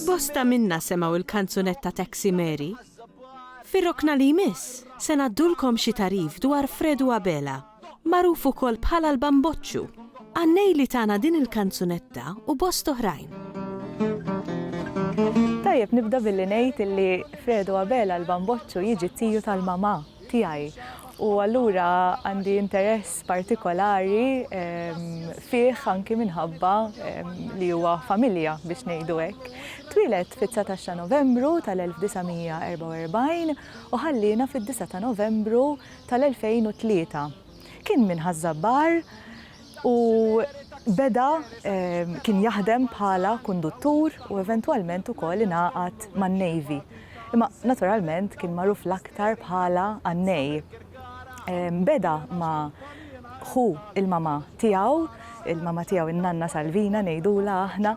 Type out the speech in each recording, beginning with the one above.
Bosta minna semgħu l-kanzunetta Taxi Mary. Fir-rokna li jmiss, se ngħaddulkom xi tagħrif dwar Fredu Abela, magħruf ukoll bħala l-Bamboċċu, għannej li tana din il-kanzunetta u bost oħrajn. Tajjeb nibda billi ngħid illi Fredu Abela l-Bamboċċu jiġi t-tiju tal-mamà. tiegħi u allura għandi interess partikolari fih anki minħabba li huwa familja biex ngħidu hekk. Twieled fit-19 ta' Novembru tal-1944 u ħalliena fid-9 ta' Novembru tal-2003. Kien minn Ħaż-Żabbar, u beda kien jaħdem bħala kunduttur u eventwalment ukoll ingħaqad man-Navy. Imma naturalment kien magħruf l-aktar bħala Annej. Beda ma' ħu il-mama tiegħu, il-mama tiegħu in-nanna Salvina ngħidula aħna,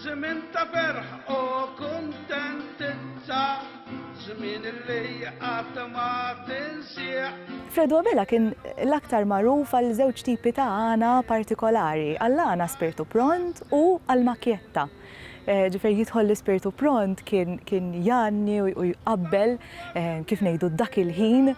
Żmien ta' ferħ u kuntentizza, żmien li qatt ma tinsieħ. Fredo Abela kien l-aktar magħruf għal żewġ tipi ta' għana partikolari, għall-għana spirtu pront u għall-macchietta. Ġifieri jidħol l-ispirtu pront kien kien jgħanni u jqabbel kif ngħidu dak il-ħin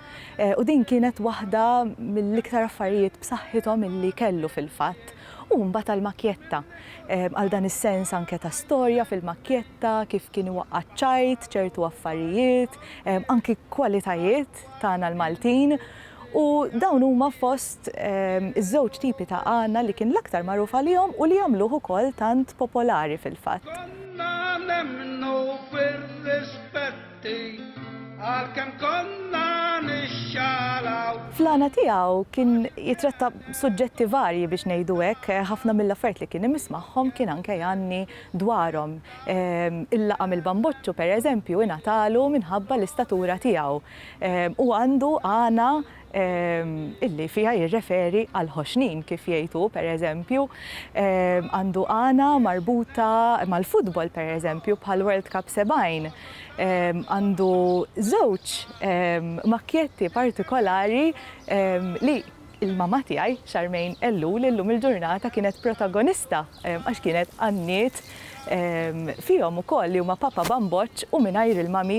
u din kienet waħda mill-iktar affarijiet b'saħħithom illi kellu fil-fatt. U mbagħad għall-makkjetta. Għal dan is-sens anke ta' storja fil-makkjetta, kif kien iwaqqa' ċ-ċajt, ċertu affarijiet, anki kwalitajiet tagħna l-Maltin. U dawn huma fost iż-żewġ tipi ta' għana li kien l-aktar magħruf għalihom u li għamluh ukoll tant popolari fil-fatt. Għalkemm konna nixxalaw. Fl-għana tiegħu kien jitratta suġġetti varji biex ngħidu hekk, ħafna mill-affarijiet li kien imiss magħhom kien anke jgħanni dwarhom. Il-laqam il-bamboċċu, pereżempju, ingħatalu minħabba l-istatura tiegħu. Hu għandu għana illi fiha jirreferi għall-ħoxnin, kif jgħid hu, pereżempju, għandu għana marbuta mal-futbol, pereżempju, bħall-World Cup 70. Għandu żewġ makkjetti partikolari li l-mamma tiegħi, Charmaine Ellul, illum il-ġurnata kienet protagonista għax kienet għanniet fihom ukoll li huma Papa Bamboċċ u Mingħajr il-Mami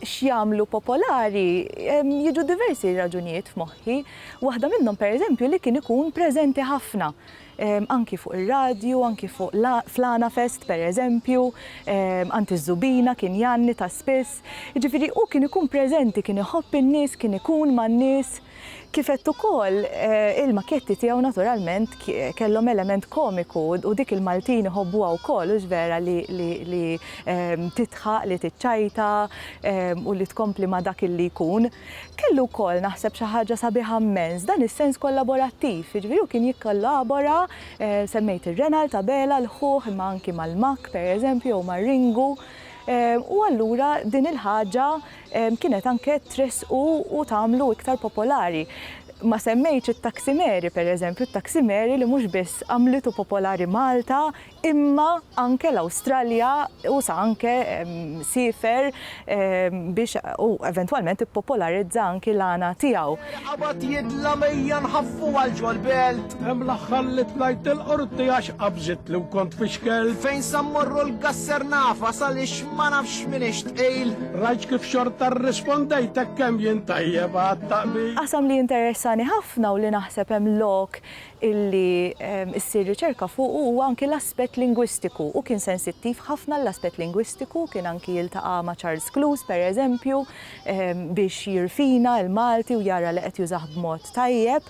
x'jagħmlu popolari, jiġu diversi raġunijiet f'moħħi. Waħda minnhom pereżempju li kien ikun preżenti ħafna, anki fuq ir-radju, anki fuq fl-Għanafest pereżempju, għand iż-żubina kien jgħanni ta' spiss. Jiġifieri hu kien ikun preżenti, kien iħobb in-nies, kien ikun man-nies. Kif għedt ukoll, il-makketti tiegħu naturalment kellhom element komiku u dik il-Maltin iħobbuha wkoll, hux vera li tidħaq, li tiċċajta u li tkompli ma' dak li jkun. Kellu wkoll, naħseb, xi ħaġa sabiħa mmens, dan is-sens kollaborattiv, jiġifieri hu kien jikkollabora, semmejt ir-Renald, Abela, l-ħuh, imma anki mal-Makk, pereżempju, jew mar-Ringu, u allura din il-ħaġa kienet anke tressqu u tagħmlu iktar popolari. Ma semmejtx it-taksimeri, pereżempju, t-taksimeri li mhux biss għamlitu popolari Malta imma anke l-Awstralja u sa anke siefer biex u eventwalment ippopolarizza anki l-għana tiegħu. Il-Qabad jidla' m'ejja nħaffu għal ġol-belt. Hemm l-aħħar li tlajt il-qorti għax qabżit li kont fi xkel. Fejn sa mmorru l-gasser nafa salix ma nafx min ixtqil. Rajt kif xorta rrispondejt hekk kemm jien tajjeb għat-taqbil. Qasam li jinteressani ħafna u li naħseb hemm lok illi ssir riċerka fuqu huwa anki l-aspett lingwistiku. Hu kien sensittiv ħafna għall-aspett lingwistiku, kien anki jiltaqa' ma' Charles Cluse, pereżempju, biex jirfina l-Malti u jara li qed jużah b'mod tajjeb.